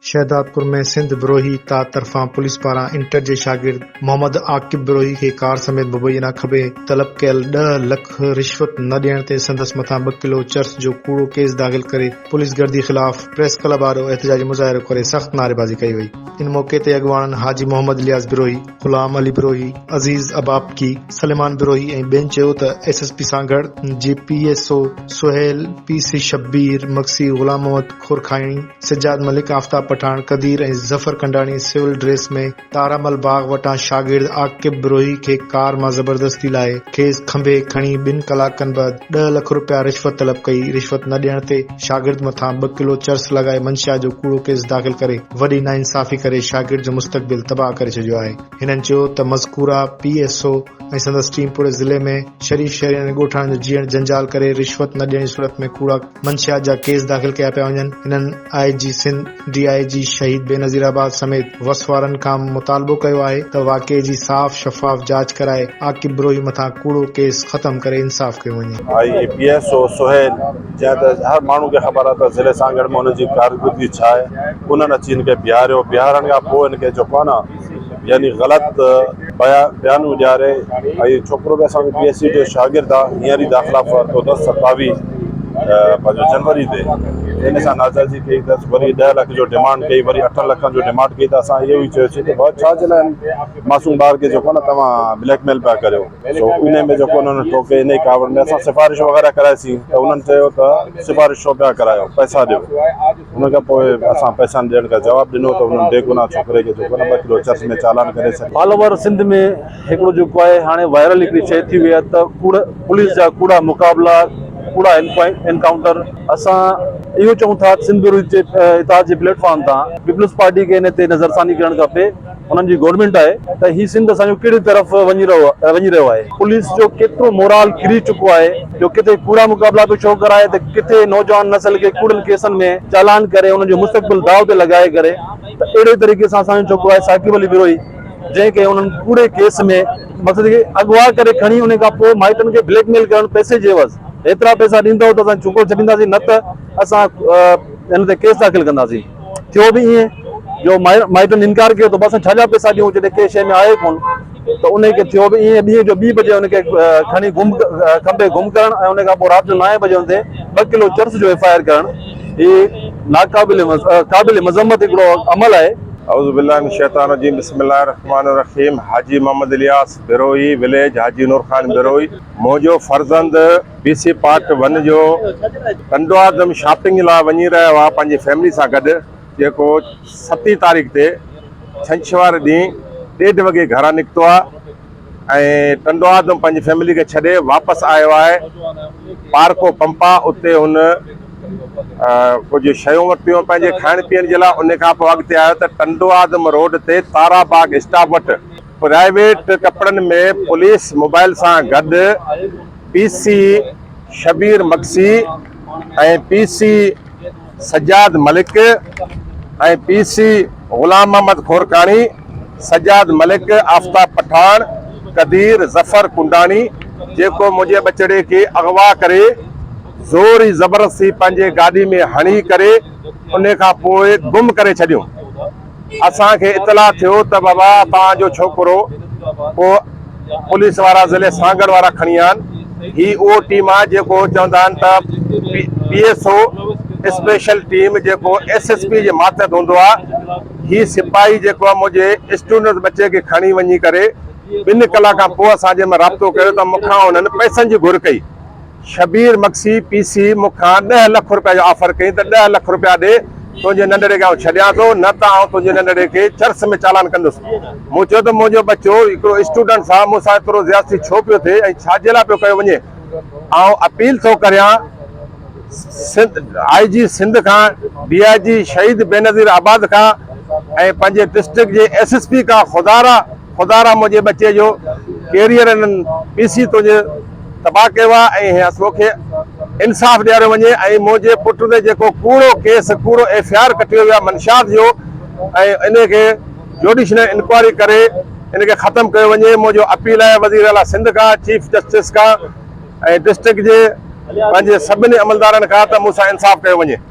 شهدادپور ۾ سنڌ بروهي ت طرفان پوليس پاران انٽر جي شاگرد محمد عاقب بروهي کي ڪار سميت ببوئي ڏانهن کٻي طلب ڪيل ڏهه لک رشوت نه ڏيڻ تي سندس مٿان ٻه ڪلو چرس جو ڪوڙو ڪيس داخل ڪري پوليس گردي خلاف پريس ڪلب آڏو احتجاجي مظاهرو ڪري سخت نعريبازي ڪئي وئي ان موقعي تي اڳواڻن حاجي محمد الياس بروهي، غلام علي بروهي، عزيز ابابڪي، سليمان بروهي ۽ ٻين چيو ته ايس ايس پي سان گڏ جي P S O Sohail, P C Shabbir Magsi, Ghulam Muhammad Korkani, Sajjad Malik, Aftab Pathan, Qadeer ۽ Zafar Kandani civil dress ۾ Tara Mal باغ وٽان شاگرد عاقب بروهي کي ڪار مان زبردستي لاهي کيس کنڀي کڻي ٻن ڪلاڪن بعد ڏهه لک رپيا رشوت طلب ڪئي، رشوت نه ڏيڻ تي شاگرد مٿان ٻه ڪلو چرس لڳائي منشيات جو ڪوڙو ڪيس داخل ڪري وڏي ناانصافي ڪري شاگرد جو مستقبل تباهه ڪري ڇڏيو آهي. هنن چيو ته مذڪوره پي ايس او ۽ سندس ٽيم پوري ضلعي ۾ شريف شهرين ۽ ڳوٺاڻن جو جيئڻ جنجال ڪري رشوت نه ڏيڻ جي صورت ۾ ڪوڙا منشيات جا ڪيس داخل ڪيا پيا وڃن هنن آء جي سنڌ ڊي آء جي شهيد بينظير آباد سميت وس وارن کان مطالبو ڪيو آهي ته واقعي جي صاف شفاف جاچ ڪرائي عاقب بروهي مٿان ڪوڙو ڪيس ختم ڪري انصاف ڪيو وڃي. I A P S O Sohail جنهن ته هر ماڻهو کي خبر آهي ته ضلعي سانگهڙ ۾ هن جي ڪارڪردگي ڇا آهي انهن اچي هن کي بيهاريو، بيهارڻ کان پوء هن کي جو ڪانه يعني غلط بيان اڏياري ۽ ڇوڪرو به اسان جو پي ايس سي جو شاگرد آ هينئر ئي داخلا ورتو اٿس ستاوي پنهنجو جنوري تي ان اسان ناجائزي ڪئي اٿس وري ڏهه لک جو ڊيمانڊ ڪئي وري اٺن لکن جو ڊيمانڊ ڪئي ته اسان اهو ئي چيوسين ته ڀاء ڇا جي لاء معصوم ٻار کي جيڪو نه توهان بليڪ ميل پيا ڪريو سو انهي ۾ جيڪو انهن ٺوڪي انهي ڪاوڙ ۾ اسان سفارش وغيره ڪرائيسين ته انهن چيو ته سفارش ڇو پيا ڪرايو پئسا ڏيو ان کان پوء اسان پئسا ڏيڻ ڪا جواب ڏنو ته انهن بيگناهه ڇوڪري کي جيڪو نه ٻه ڪلو چرس ۾ چالان ڪري ڇڏيو. آل اوور سنڌ ۾ هڪڙو جيڪو آهي هاڻي وائرل هڪڙي شئي ٿي وئي آهي ته ڪوڙ پوليس جا ڪوڙا مقابلا ڪوڙا انڪائونٽر اسان اهو چئون ٿا سنڌ بيورو جي اتحاد جي پليٽ فارم تان پيپلز پارٽي کي ان تي نظرثاني ڪرڻ کپي. انهن جي گورنمينٽ آهي ته هي سنڌ اسان جو ڪهڙي طرف وڃي رهيو آهي پوليس جو ڪيترو مورال ڪري چڪو آهي جو ڪٿي ڪوڙا مقابلا پيو شو ڪرائي ته ڪٿي نوجوان نسل کي ڪوڙن ڪيسن ۾ چالان ڪري انهن جو مستقبل داء تي لڳائي ڪري ته اهڙي طريقي سان اسان جو ڇوڪرو آهي ثاقب علي بروهي جنهن کي انهن ڪوڙي ڪيس ۾ مقصد کي اغوا ڪري کڻي انهي کان پوء مائٽن کي بليڪ ميل ڪرڻ پئسي جي عوض هيترا پئسا ڏيندؤ ته اسان ڇوڪرو ڇڏينداسين نه ته اسان هن تي ڪيس داخل ڪنداسين. ٿيو به ائين جو مائٽن انڪار ڪيو ته بس ڇا جا پئسا ڏيون جڏهن ڪنهن شيء ۾ آهي ڪونه ته انهيء کي ٿيو به ائين ڏينهن جو ٻي بجي ان کي کڻي گم کنڀي گم ڪرڻ ۽ ان کان پوء رات جو نائين بجي ان تي ٻه ڪلو چرس جو ايف آء آر ڪرڻ هي ناقابل قابل مذمت هڪڙو عمل آهي. اعوذ بالله من الشيطان الرجيم بسم الله الرحمٰن الرحيم حاجي محمد الياس بروهي وليج حاجي نور خان بروهي منهنجو فرزند. ڊي سي پارٽ ون جو ڪنڊوآدم شاپنگ لاء وڃي رهيو آهي پنهنجي فيملي سان گڏ جيڪو ستين تاريخ تي ڇنڇوار ڏينهن ڏيڍ وڳي گهران نڪتو آهي ۽ ڪنڊوآدم پنهنجي فيملي کي ڇڏي واپس آيو آهي پارڪو پمپا اتي هن ڪجهه شيون ورتيون پنهنجي کائڻ پيئڻ جي لاء ان کانپوء اڳتي آيو ته ڪنڊوآدم روڊ تي تارا باغ اسٽاپ وٽ پرائيويٽ ٽپڙن ۾ پوليس موبائل سان گڏ P C Shabbir Magsi ۽ P C Sajjad Malik ۽ P C Ghulam Muhammad Korkani, Sajjad Malik, Aftab Pathan, Qadeer Zafar Kandani, جيڪو منهنجي ٻچڙي کي اغوا ڪري زور ئي زبردستي پنهنجي گاڏي ۾ هڻي ڪري ان کان پوء گم ڪري ڇڏيو. اسان کي اطلاع ٿيو ته بابا توهان جو ڇوڪرو ڪو پوليس وارا ضلعي سانگهڙ وارا کڻي ويا آهن، هي اهو ٽيم آهي جيڪو چوندا آهن ته P S O special team جيڪو ايس ايس پي جي ماتحت هوندو آهي، هي سپاهي جيڪو آهي منهنجي اسٽوڊنٽ ٻچي کي کڻي وڃي ڪري ٻن ڪلاڪن کان پوء اسان جنهن مهل رابطو ڪيو ته مون کان انهن پئسن جي گهر ڪئي. شبير مگسي پي سي مون کان ڏهه لک روپيه جو آفر ڪيائين ته ڏهه لک روپيا ڏي تنهنجي ننڍڙي کي آئون ڇڏيان ٿو نه ته آئون تنهنجي ننڍڙي کي چرس ۾ چالان ڪندس مون چيو ته منهنجو ٻچو هڪڙو اسٽوڊنٽ سان مون سان ايترو زيادتي ڇو پيو ٿئي ۽ ڇا جي لاء پيو ڪيو وڃي آئون اپيل ٿو ڪريان آئي جي سنڌ کان ڊي آئي جي شهيد بينظير آباد کان ۽ پنهنجي ڊسٽرڪٽ جي ايس ايس پي کان خدارا خدا را منهنجي ٻچي جو ڪيريئر انهن پي سي تون جي تباهه ڪيو آ ۽ اسو کي انصاف ڏياريو وڃي ۽ منهنجي پٽ تي جيڪو ڪوڙو ڪيس ڪوڙو ايف اي آر ڪٽيو ويو آ منشيات جو ۽ انهي کي جوڊيشنل انڪوائري ڪري ان کي ختم ڪيو وڃي منهنجو اپيل آهي وزير اعليٰ سنڌ کان چيف جسٽس کان ۽ ڊسٽرڪٽ جي پنهنجي سڀني عملدارن کان ته مون سان انصاف ڪيو وڃي.